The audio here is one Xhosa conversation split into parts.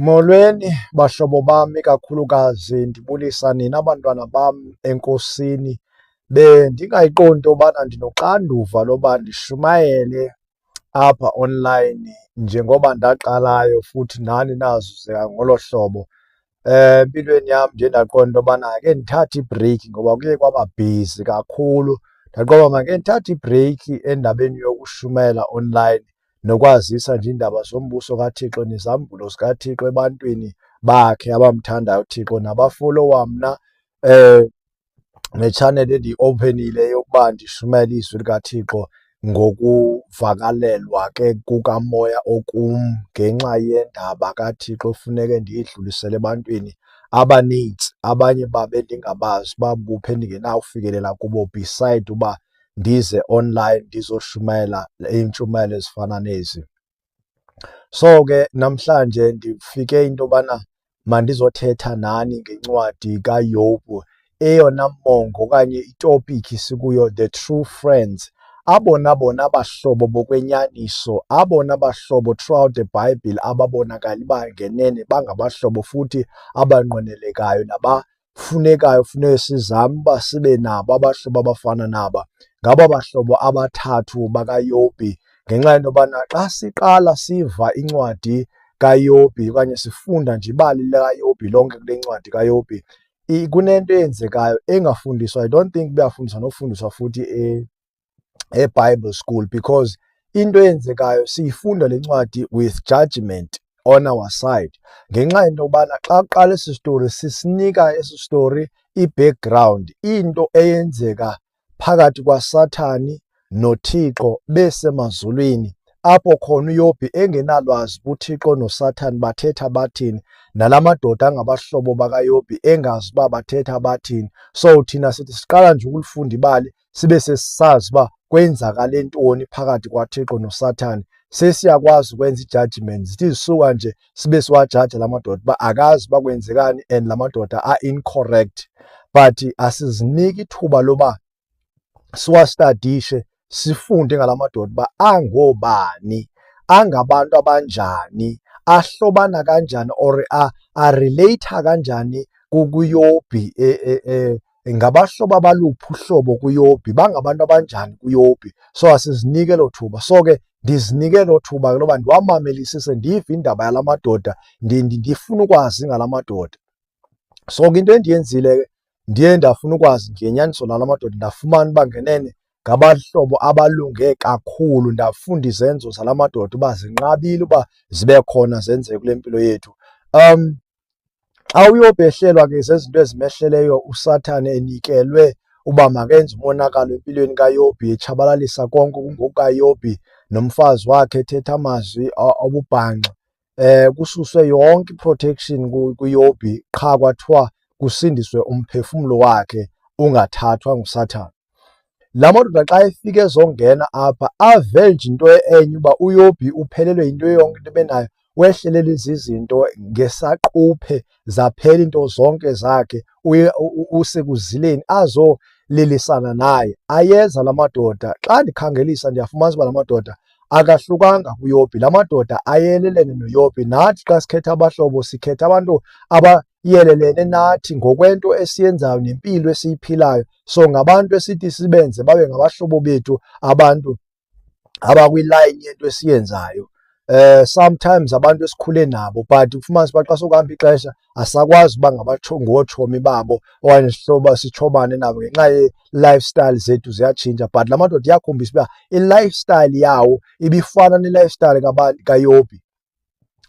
Molweni, bahlobo bam, ikakhulukazi ndibulisa nina bantwana bam enkosini. Bendingayiqondi into yobana ndinoxanduva loba ndishumayele apha online njengoba ndaqalayo futhi nani nazuze ngolo hlobo. Eh, empilweni yam ndiye ndaqonda into yobana ke ndithathe ibhreyikhi ngoba kuye kwaba bhizi kakhulu. Ndaqonda uba ke ndithathe ibhreyikhi endabeni yokushumayela online nokwazisa nje iindaba zombuso kaThixo nezambulo zikaThixo ebantwini bakhe abamthandayo uThixo nabafolowa mna um netshaneli endiyi-ophenile yokuba ndishumayele izwi likaThixo ngokuvakalelwa ke kukamoya okum ngenxa yendaba kaThixo funeke ndiyidlulisele ebantwini abaninzi abanye babe ndingabazi uba buphi endingenawufikelela kubo beside uba ndize online ndizoshumayela iintshumayelo ezifana nezi. So ke namhlanje ndifike into yobana mandizothetha nani ngencwadi kaYobu eyona mongo okanye itopiki sikuyo The True Friends abona bona bahlobo bokwenyaniso abona bahlobo throughout the bible ababonakali bangenene bangabahlobo futhi abanqwenelekayo naba kufunekayo funeke sizame uba sibe nabo abahlobo abafana naba ngaba bahlobo abathathu bakaYobhi ngenxa yento yobana xa siqala siva incwadi kaYobhi okanye sifunda nje ibali likaYobhi lonke kule ncwadi kaYobhi kunento eyenzekayo engafundiswa i don't think buyafundiswa nofundiswa futhi eBible school because into eyenzekayo siyifunda le ncwadi with judgment on our side ngenxa yento yobana xa kuqala esi story sisinika esi story i-background into eyenzeka phakathi kwasathani nothixo besemazulwini apho khona uyobhi engenalwazi uthixo nosathani bathetha bathini nala madoda angabahlobo bakayobhi engazi uba bathetha bathini so thina sithi siqala nje ukulifunda ibali sibe sesisazi uba kwenzakale ntoni phakathi kwaThixo noSathane sesiyakwazi ukwenza i-judgment zithi zisuka nje sibe siwajaja la madoda uba akazi uba kwenzekani and la madoda a-incorrect but asiziniki ithuba loba siwastadishe sifunde ngala madoda uba angobani angabantu abanjani ahlobana kanjani or arelate kanjani kuyobhi e, e, e, ngabahlobo abaluphi uhlobo kuYobhi, bangabantu abanjani kuYobhi. So asizinike elo thuba. So ke ndizinike elo thuba ke loba ndiwamamelisise, ndive indaba yala madoda, ndifuna ukwazi ngala madoda. So ke into endiyenzile ke ndiye ndafuna ukwazi ngenyaniso lala madoda, ndafumana uba ngenene ngabahlobo abalunge kakhulu. Ndafunda izenzo zala madoda uba zinqabile uba zibe khona zenzeke kule mpilo yethu. Um, xa uyobehlelwa ke zezinto ezimehleleyo usathane enikelwe uba makenze umonakalo empilweni kayobhi etshabalalisa konke kungokukayobhi nomfazi wakhe ethetha amazwi obubhanxa eh kususwe yonke iprotection kuyobhi qha kwathiwa kusindiswe umphefumlo wakhe ungathathwa ngusathane La madoda xa efika ezongena apha ave nje into enye uba uyobi uphelelwe yinto yonke into ebenayo wehlelele izizinto ngesaquphe zaphela into zonke zakhe usekuzileni azolilisana naye ayeza la madoda xa ndikhangelisa ndiyafumanisa uba la madoda akahlukanga kuyopi la madoda ayelelene noyopi nathi xa sikhetha abahlobo sikhetha abantu aba iyelelene nathi ngokwento esiyenzayo nempilo esiyiphilayo. So ngabantu esithi sibenze babe ngabahlobo bethu abantu abakwilayini yento esiyenzayo. Eh sometimes abantu esikhule nabo but kufumanisa uba xa sokuhamba ixesha asakwazi uba ngotshomi babo okanye sihloba sitshomane nabo ngenxa ye-lifestyle zethu ziyatshintsha but la madoda iyakhombisa uba i-lifestyle yawo ibifana ne-lifestyle kayobi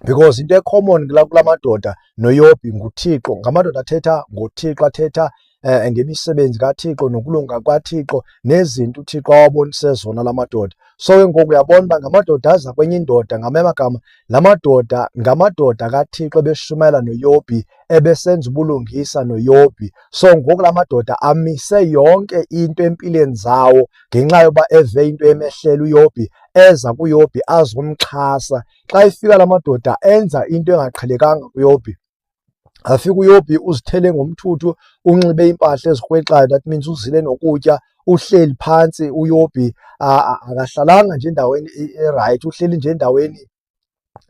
because into ecommon kula kula madoda noyobhi nguthixo ngamadoda athetha ngothixo athetha um ngemisebenzi kathixo nokulunga kwathixo nezinto uthixo awabonise zona la madoda so ke ngoku uyabona uba ngamadoda aza kwenye indoda ngamanye amagama la madoda ngamadoda kathixo ebeshumayela noyobhi ebesenza ubulungisa noyobhi so ngoku la madoda amise yonke into empilweni zawo ngenxa yoba eve into emehlela uyobhi eza kuYobhi azomxhasa. Xa efika la madoda enza into engaqhelekanga kuYobhi. Afika uYobhi uzithele ngomthuthu, unxibe iimpahla ezikrwexayo, that means uzile nokutya, uhleli phantsi uYobhi akahlalanga nje endaweni erayithi, uhleli nje endaweni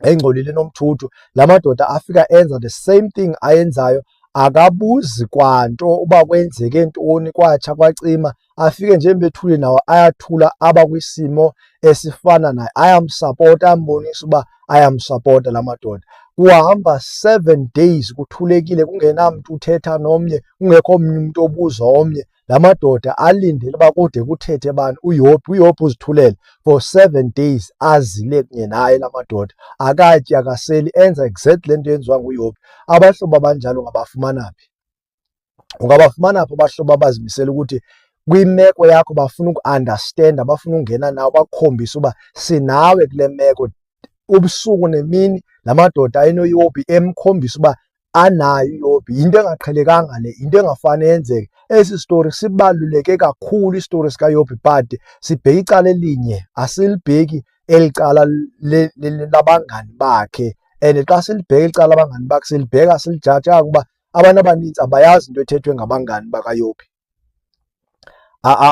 engcolile nomthuthu la madoda afika enza the same thing ayenzayo akabuzi kwanto uba kwenzeke ntoni kwatsha kwacima afike nje bethule nawo ayathula aba kwisimo esifana naye ayamsapota ambonisa uba ayamsapota la madoda kuhamba seven days kuthulekile kungenamntu uthetha nomnye kungekho mnye umntu obuza omnye la madoda alindele uba kude kuthethe bani uyophi uyophi uzithulele for seven days azile kunye naye la madoda akatyi akaseli enza exact le nto yenziwa nguyophi abahlobo abanjalo ungabafumana phi ungabafumana phi abahlobo abazimisela ukuthi kwimeko yakho bafuna uku-understanda bafuna ungena nawe bakukhombise uba sinawe kule meko ubusuku nemini la madoda ayinoyophi emkhombisa uba anayo iyobi yinto engaqhelekanga le yinto engafane yenzeke esi story sibaluleke kakhulu istory sikayobi but sibheke icala elinye asilibheki eli cala labangani bakhe and xa silibheka icala abangani bakhe silibheka silijaja kuba abantu abaninzi abayazi into ethethwe ngabangani bakayobi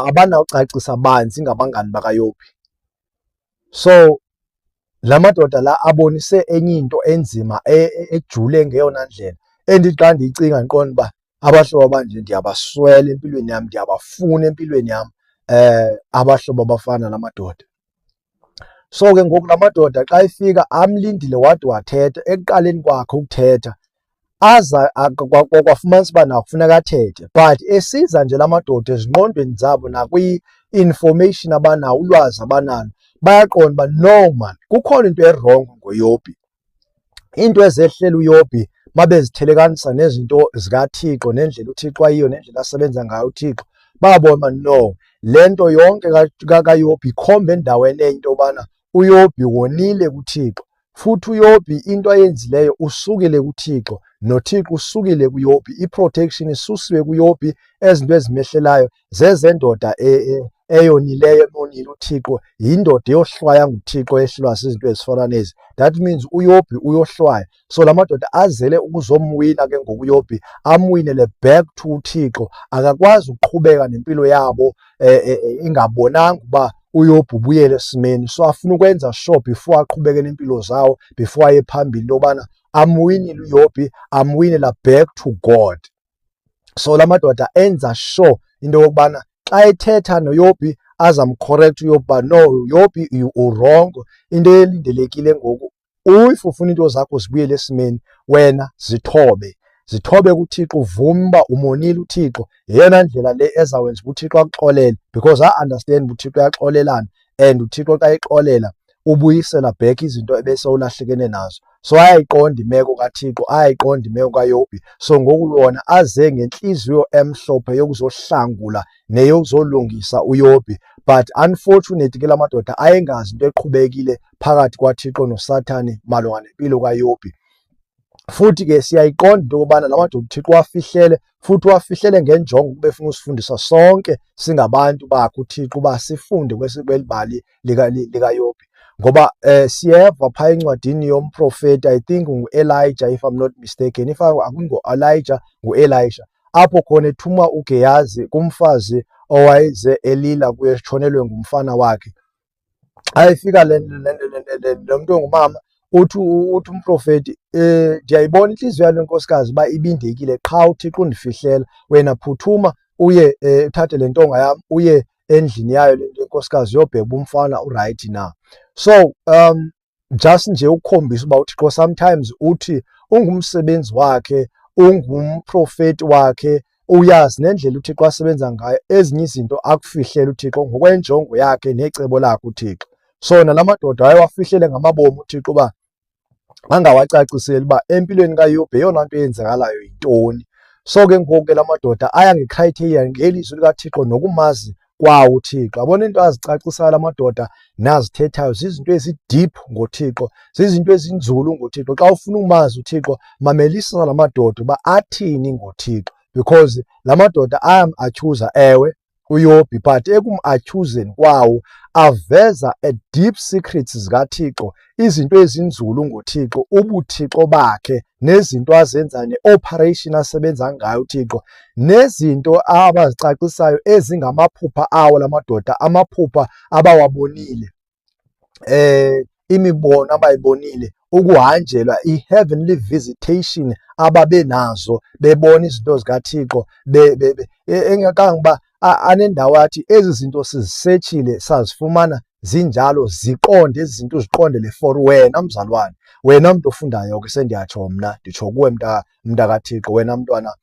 abanawucacisa banzi ngabangani bakaYobhi. So la madoda la abonise enye into enzima e, e, ejule ngeyona ndlela endithi xa ndiyicinga ndiqonda uba abahlobo abanje ndiyabaswela empilweni yam, ndiyabafuna empilweni yam um abahlobo abafana nala madoda. So ke ngoku la madoda xa efika amlindile wade wathetha ekuqaleni kwakhe ukuthetha aza kwafumanisa uba nakufuneka athethe but esiza nje la madoda ezingqondweni zabo nakwi-information abanawo ulwazi abanalo bayaqonda uba no man kukhona into erongo ngoyobi iinto ezehlela uYobhi babezithelekanisa nezinto zikaThixo nendlela uThixo ayiyo nendlela asebenza ngayo uThixo babona no le nto yonke kaYobhi ikhomba endaweni enye into yobana uYobhi wonile kuThixo futhi uYobhi into ayenzileyo usukile kuThixo noThixo usukile kuYobhi iprotection isusiwe kuYobhi ezinto ezimehlelayo zezendoda e, e, eyonileyo emonile uthixo yindoda eyohlwaya nguthixo ehlwa sizinto ezifana nezi that means uyobhi uyohlwaya so la madoda azele ukuzomwina ke ngoku uyobhi amwinele back to uthixo akakwazi ukuqhubeka nempilo yabo eh, eh, eh, ingabonanga uba uyobhi ubuyele esimeni so afuna ukwenza sure before aqhubeke nempilo zawo before aye phambili into yobana amwinile uyobhi amwinela back to god so la madoda enza sure into yokubana xa ethetha noyobi azamcorrect uyobi uba no yobi uwrong into elindelekile ngoku if ufuna iinto zakho zibuyele esimeni wena zithobe zithobe kuThixo uvume uba umonile uThixo yeyona ndlela le ezawenza uba uThixo akuxolele because I understand uba uThixo uyaxolelana and uThixo xa exolela ubuyisela back izinto ebesewulahlekene nazo so ayayiqonda imeko kaThixo ayayiqonda imeko kaYobi so ngoku yona aze ngentliziyo emhlophe yokuzohlangula neyokuzolungisa uYobi but unfortunately ke la madoda ayengazi into eqhubekile phakathi kwaThixo noSathane malunga nempilo kaYobi Futhi ke siyayiqonda into yokubana la madoda uThixo wafihlele futhi wafihlele ngenjongo ukuba efuna usifundisa sonke singabantu bakhe uThixo uba sifunde kweli bali likaYobhi ngoba um siyeva phaa encwadini yomprofeti i think nguelijah if i'm not mistaken if akungo-elijah nguelijah apho khona ethuma ugeyazi kumfazi owayeze elila kuye etshonelwe ngumfana wakhe ayifika le lo mntu ongumama uthi uthi umprofeti um ndiyayibona intliziyo yalo nkosikazi uba ibindekile qha uthixo undifihlela wena phuthuma uye um uthathe le ntonga yam uye endlini yayo le nto inkosikazi yobheka uba umfana urayithi na so um just nje ukukhombisa uba uThixo sometimes uthi ungumsebenzi wakhe ungumprofeti wakhe uyazi nendlela uThixo asebenza ngayo ezinye izinto akufihlela uThixo ngokwenjongo yakhe necebo lakhe uThixo so nalamadoda ayewafihlele ngamabomi uThixo uba angawacaciseli uba empilweni kaYobhe eyona nto eyenzakalayo yintoni so ke ngoku ke lamadoda aya ngecriteria ngelizwi likaThixo nokumazi kwa uThixo. Yabona into azicacisayo amadoda nazithethayo zizinto ezideep ngoThixo, zizinto ezinzulu ngoThixo. Xa ufuna umazi uThixo, mamelisa la madoda uba athini ngoThixo because la madoda ayam-atyhuza ewe uyobi but ekum-atyhuzeni kwawo aveza a deep secrets zikaThixo izinto ezinzulu ngoThixo, ubuthixo bakhe nezinto azenza ne-operation asebenza ngayo uThixo nezinto abazicacisayo ezingamaphupha awo la madoda, amaphupha abawabonile eh imibono abayibonile ukuhanjelwa i-heavenly visitation ababenazo bebona izinto zikaThixo e, engakangoba anendawo athi ezi zinto sizisetshile sazifumana zinjalo ziqonde ezi zinto uziqondele for wena mzalwane wena mntu ofundayo ke sendiyatsho mna nditsho kuwe mnta mntakathixo wena mntwana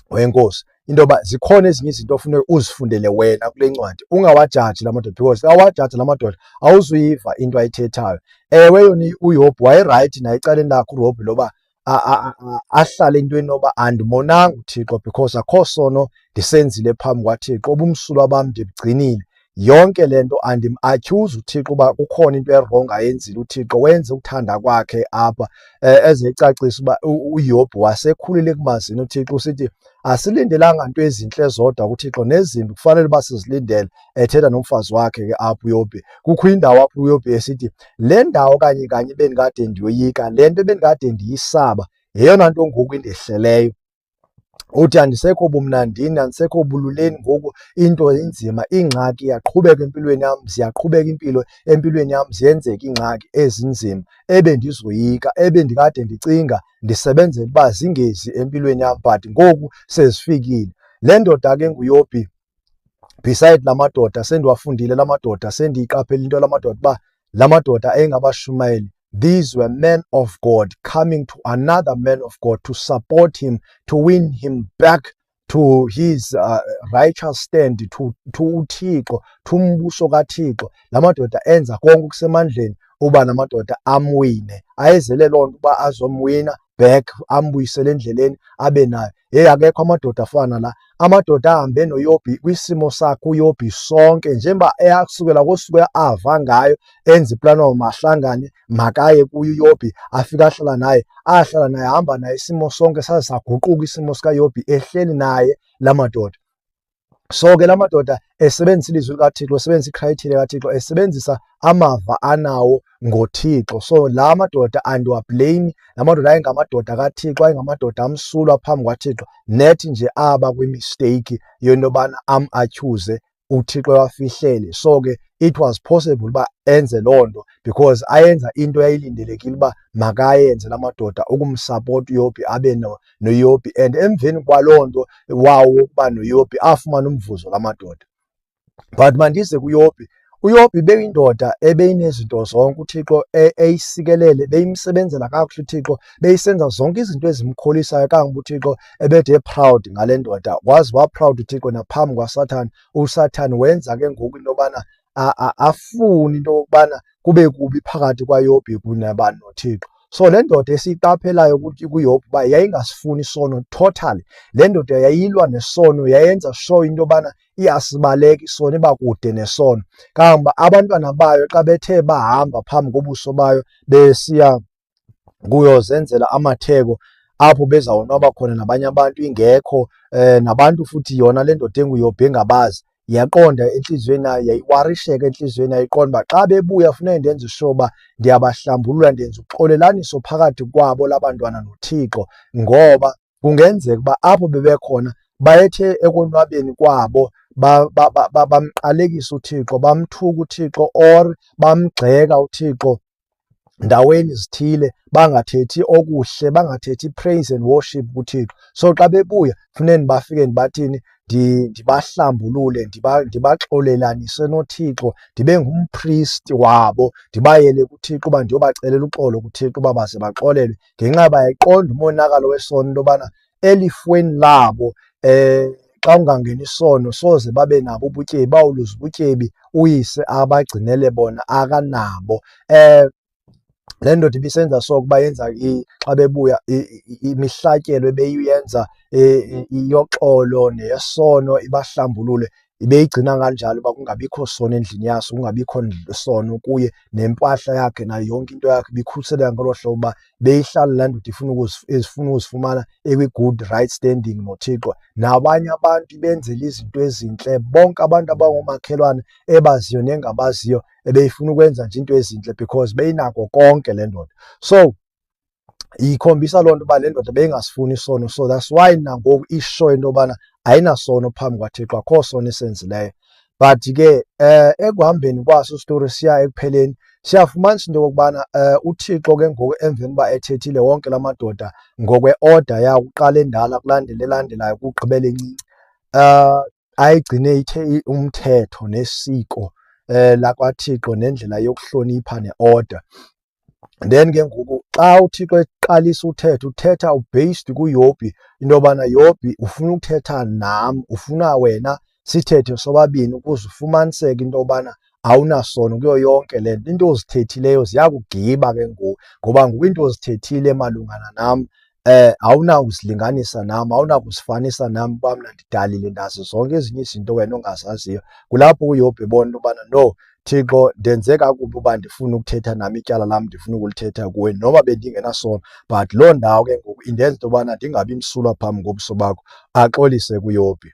wenkosi into yoba zikhona ezinye izinto ofuneka uzifundele wena kule ncwadi ungawajaji la madoda because awajaji la madoda awuzuyiva into ayithethayo ewe yona uyihobhi wayerayithi naye ecaleni lakho urobhi loba ahlale into enoba andimonanga uThixo because akho sono ndisenzile phambi kwaThixo ubumsulwa bam ndibugcinile yonke le nto andim-atyhuzi uthixo uba kukhona into erongo ayenzile uthixo wenze ukuthanda kwakhe apha eh, eze ecacisa uba uyobhu wasekhulile ekumazini uthixo usithi asilindelanga nto ezintle zodwa kuthixo nezimbi kufanele uba sizilindele ethetha nomfazi wakhe ke apho uyobe kukho indawo apho uyobe esithi le ndawo kanye kanye bendikade ndiyoyika le nto bendikade ndiyisaba yeyona nto ngoku indehleleyo uthi andisekho bumnandini andisekho bululeni ngoku into inzima ingxaki iyaqhubeka empilweni yam ziyaqhubeka impilo empilweni yam ziyenzeka iingxaki ezinzima ebe ndizoyika ebe ndikade ndicinga ndisebenzela uba zingezi empilweni yam but ngoku sezifikile le ndoda ke nguyobhi beside la madoda sendiwafundile la madoda sendiyiqaphela into la madoda uba la madoda ayengabashumayeli these were men of god coming to another man of god to support him to win him back to his uh, righteous stand to, to uthixo to umbuso kathixo la madoda enza konke okusemandleni uba namadoda amwine ayezele loo nto uba azomwina back ambuyisele endleleni abe nayo hey akekho amadoda afana la amadoda ahambe noyobi kwisimo sakhe uyobi sonke njengoba eyasukela kosuku ava ngayo enza iplan wawo mahlangane makaye kuyo uyobi afike ahlala naye ahlala naye hamba naye isimo sonke saze saguquka isimo sikayobi ehleli naye la madoda So ke la madoda esebenzisa ilizwi likaThixo, esebenzisa ikrayithile kaThixo, esebenzisa amava anawo ngoThixo. So la madoda andiwableyimi, la madoda ayengamadoda kaThixo, ayengamadoda amsulwa phambi kwaThixo. Net nje aba kwimisteyikhi yento yobana am-atyhuze uThixo ewafihlele. So ke it was possible uba enze loo nto because ayenza into yayilindelekile uba makayenze la madoda ukumsapota uYobhi abe noyopi and emveni kwaloo nto wawo wokuba noyopi afumana umvuzo la madoda but mandize kuyopi uyopi beyindoda ebeyinezinto zonke uthixo e-, eyisikelele beyimsebenzela kakuhle uthixo beyisenza zonke izinto ezimkholisayo kangoba uthixo ebethe proud ngale ndoda wazi waproud uthixo naphambi kwasathane usathane wenza ke ngoku into yobana afuni into yokubana kube kubi phakathi kwaYobhi kunye nabani noThixo. So le ndoda esiyiqaphelayo ukuthi kuYobhi uba yayingasifuni isono totally. Le ndoda yayilwa nesono, yayenza sure into yobana iyasibaleka isono, iba kude nesono. Kangangoba abantwana bayo xa bethe bahamba phambi kobuso bayo besiya kuyozenzela amatheko apho bezawonwaba khona nabanye abantu ingekho eh nabantu futhi yona le ndoda enguyobhe engabazi yaqonda enhliziyweni yayo yayiwarisheka enhliziyweni yayo iqonda uba xa bebuya funeke ndenze usho uba ndiyabahlambulula ndenza uxolelaniso phakathi kwabo labantwana nothixo ngoba kungenzeka uba apho bebekhona bayethe ekonwabeni kwabo bamqalekisa uthixo bamthuka uthixo or bamgxeka uthixo ndaweni zithile bangathethi okuhle bangathethi praise and worship kuThixo so xa bebuya funeka ndibafike ndibathini ndibahlambulule ndibaxolelanise noThixo ndibe ngumpristi wabo ndibayele kuThixo uba ndiyobacelela uxolo kuThixo uba baze baxolelwe ngenxa bayayiqonda umonakalo wesono into yobana elifweni labo eh xa ungangeni isono soze babe nabo ubutyebi bawuluza ubutyebi uyise abagcinele bona akanabo eh le ndoda ibisenza so ukuba yenza xa bebuya imihlatyelo ebeyiyenza e, e, iyoxolo neyesono ibahlambulule ibeyigcina kanjalo uba kungabikho sono endlini yaso kungabikho sono kuye nempahla yakhe nayo yonke into yakhe ibikhuseleka ngolo hlobo uba beyihlala laa ndoda ifuna ezifuna ukuzifumana ekwi-good right standing nothixo nabanye abantu ibenzela izinto ezintle bonke abantu abangomakhelwane ebaziyo nengabaziyo ebeyifuna ukwenza nje into ezintle because beyinako konke le ndoda so ikhombisa loo nto uba le ndoda beyingasifuni isono so that's why nangoku isho into yobana ayinasono phambi kwathixo akho sono esenzileyo but ke um ekuhambeni kwaso isitori siya ekupheleni siyafumanisa into yokokubana um uthixo ke ngoku emveni uba ethethile wonke la madoda ngokwe-order yakuqala endala kulandela elandelayo kugqibela encinci um ayigcine ithe umthetho nesiko eh lakwaThixo nendlela yokuhlonipha neorder then ke ngoku xa uThixo eqalisa uthetha uthetha ubased kuYobhi into yobana Yobhi ufuna ukuthetha nam ufuna wena sithethe sobabini ukuze ufumaniseke into yobana awunasono kuyo yonke le nto into ozithethileyo ziyakugiba ke ngoku ngoba ngoku into ozithethile malungana nam eh awunakusilinganisa nam awunakusifanisa nam uba mna ndidalile ndazi zonke ezinye izinto wena ongazaziyo kulapho uyobhe bona ubana no Thixo ndenze kakubi uba ndifuna ukuthetha nami ityala lam ndifuna ukulithetha kuwe noba bendingenasono but loo ndawo ke ngoku indenza into yobana ndingabi msulwa phambi ngobuso bakho axolise kuyobhi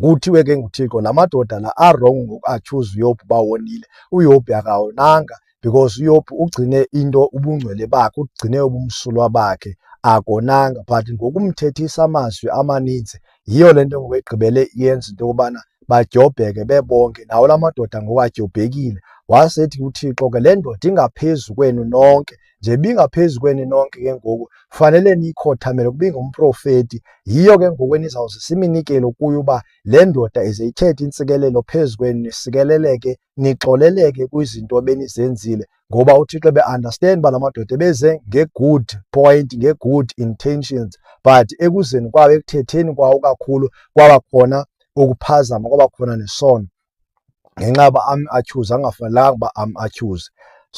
Kuthiwe ke nguThixo la madoda la arong ngokuachuze uYobhu uba wonile. UYobhu akawonanga because uYobhu ugcine into ubungcwele bakhe, ugcine ubumsulwa bakhe akonanga but ngokumthethisa amazwi amaninzi yiyo le nto ngoku egqibele iyenza into yokubana badyobheke bebonke nawo la madoda ngoku adyobhekile wasethi uthixo ke le ndoda ingaphezu kwenu nonke nje bingaphezu kweni nonke ke ngoku fanele niyikhothamele kuba ingumprofeti yiyo ke ngoku enizawuze siminikelo kuyo uba le ndoda ize ithethe intsikelelo phezu kwenu nisikeleleke nixoleleke kwizinto benizenzile ngoba uthixo be-understand uba la madoda ebeze nge-good point nge-good intentions but ekuzeni kwawo ekuthetheni kwawo kakhulu kwaba khona ukuphazama kwaba khona nesono ngenxa yoba am atyhuze angafanelanga uba am atyhuze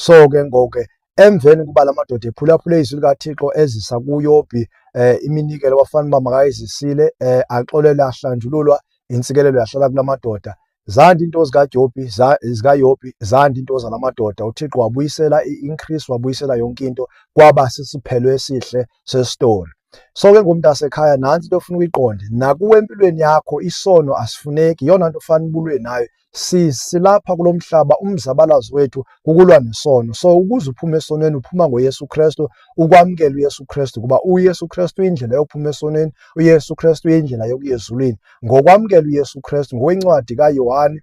so ke ngoku ke emveni kuba la madoda ephulaphule izwi likathixo ezisa kuyobhi um iminikelo wafana uba makayizisile um axolele ahlanjululwa intsikelelo yahlala kula madoda zanda iinto zikajobhi zikayobhi zanda iinto zala madoda uthixo wabuyisela i-increase wabuyisela yonke into kwaba sisiphelo esihle sesitolo. So ke ngumntasekhaya nantsi into ofuna uyiqonde nakuwe empilweni yakho isono asifuneki yona nto ofana ubulwe nayo sisilapha kulo mhlaba umzabalazo wethu kukulwa nesono so ukuze uphume esonweni uphuma ngoyesu kristu ukwamkela uyesu kristu kuba uyesu kristu uyindlela yokuphuma esonweni uyesu kristu uyindlela yokuya ezulwini ngokwamkela uyesu kristu ngokwencwadi kayohane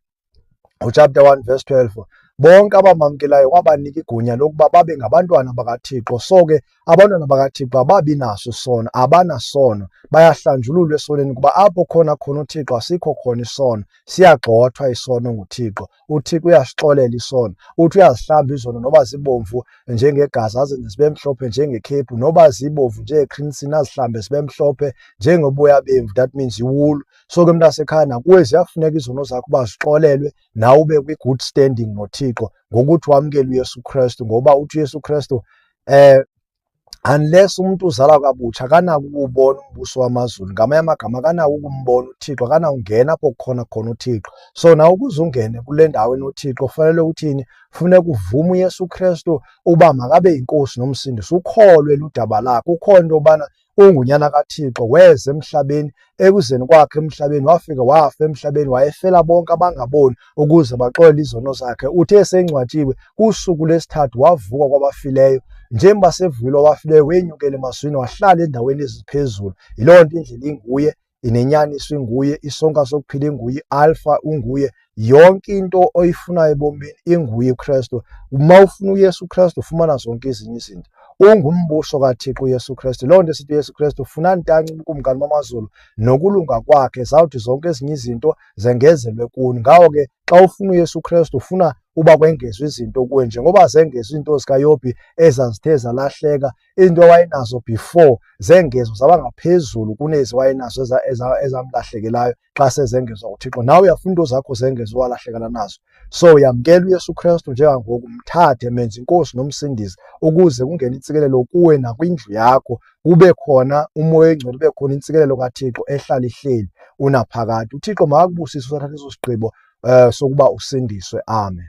ngochapter 1 verse 12 bonke abamamkelayo wabanika igunya lokuba babe ngabantwana bakaThixo. So ke abantwana bakaThixo ababi naso isono, abanasono, bayahlanjululwa esoneni kuba apho khona khona uThixo asikho khona isono, siyagxothwa isono nguThixo. UThixo uyasixolela isono, uthi uyazihlamba izono noba zibomvu njengegazi azenze zibe mhlophe njengekhephu, noba zibomvu njengeqhinisini azihlambe zibe mhlophe njengoboya bemvu, that means iwulu. So ke mntasekhaya nakuwe ziyafuneka izono zakho uba zixolelwe nawe ube kwi-good standing noThixo ngokuthi wamkele uYesu Kristu ngoba uthi uYesu Kristu eh unless umuntu uzalwa kabutsha akanako ukuwubona umbuso wamazulu ngamanye amagama akanako ukumbona uthixo akanawungena apho kukhona khona uthixo so nawe ukuze ungene kule ndawo enothixo fanele uthini funeka uvume uyesu kristu uba makabe yinkosi nomsindisi ukholwe ludaba lakho ukhona into yobana ungunyana kaThixo weza emhlabeni ekuzeni kwakhe emhlabeni wafika wafa emhlabeni wayefela bonke abangaboni ukuze baxole izono zakhe uthe esengcwatshiwe kusuku lesithathu wavuka kwabafileyo njengoba sevuyile wabafileyo wenyukela emazwini wahlala endaweni eziphezulu yiloo nto indlela inguye inenyaniso inguye, isonka sokuphila inguye, alfa unguye, yonke into oyifunayo ebomini inguye uKristu. Uma ufuna uYesu Kristu ufumana zonke ezinye izinto. Ungumbuso kaThixo uYesu Kristu. Loo nto esithi uYesu Kristu funa ntanci ubukumkani bamazulu nokulunga kwakhe, zawuthi zonke ezinye izinto zengezelwe kuni. Ngawo ke xa ufuna uYesu Kristu ufuna uba kwengezwe izinto kuwe njengoba zengezwe iinto zikaYobhi ezazithe zalahleka iinto awayenazo before zengezwa zaba ngaphezulu kunezi wayenazo ezamlahlekelayo xa sezengezwa uthixo nawe uyafuna into zakho zengezwa walahlekela nazo so uyamkela uyesu kristu njengangoku mthathe menze inkosi nomsindisi ukuze kungene intsikelelo kuwe nakwindlu yakho kube khona umoya engcwele ube khona intsikelelo kathixo ehlala ihleli unaphakade uthixo makakubusise usathatha eso sigqibo um sokuba usindiswe amen